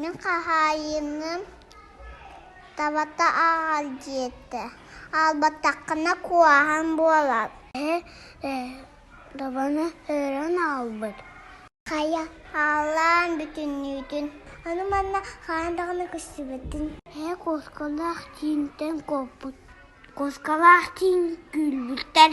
Мин хаһаайыным табата аҕал диэтэ. Аалбатаххына куһаҕан буолар. Табаны өрөн аалбыт. Хайа, ааллаан бүтүннүүтүн. Аны манна хаһан даҕаны көстүбэтин. Ээ, куоскалаах тиинтэн куоппут. Куоскалаах тиин күүлбүттэр.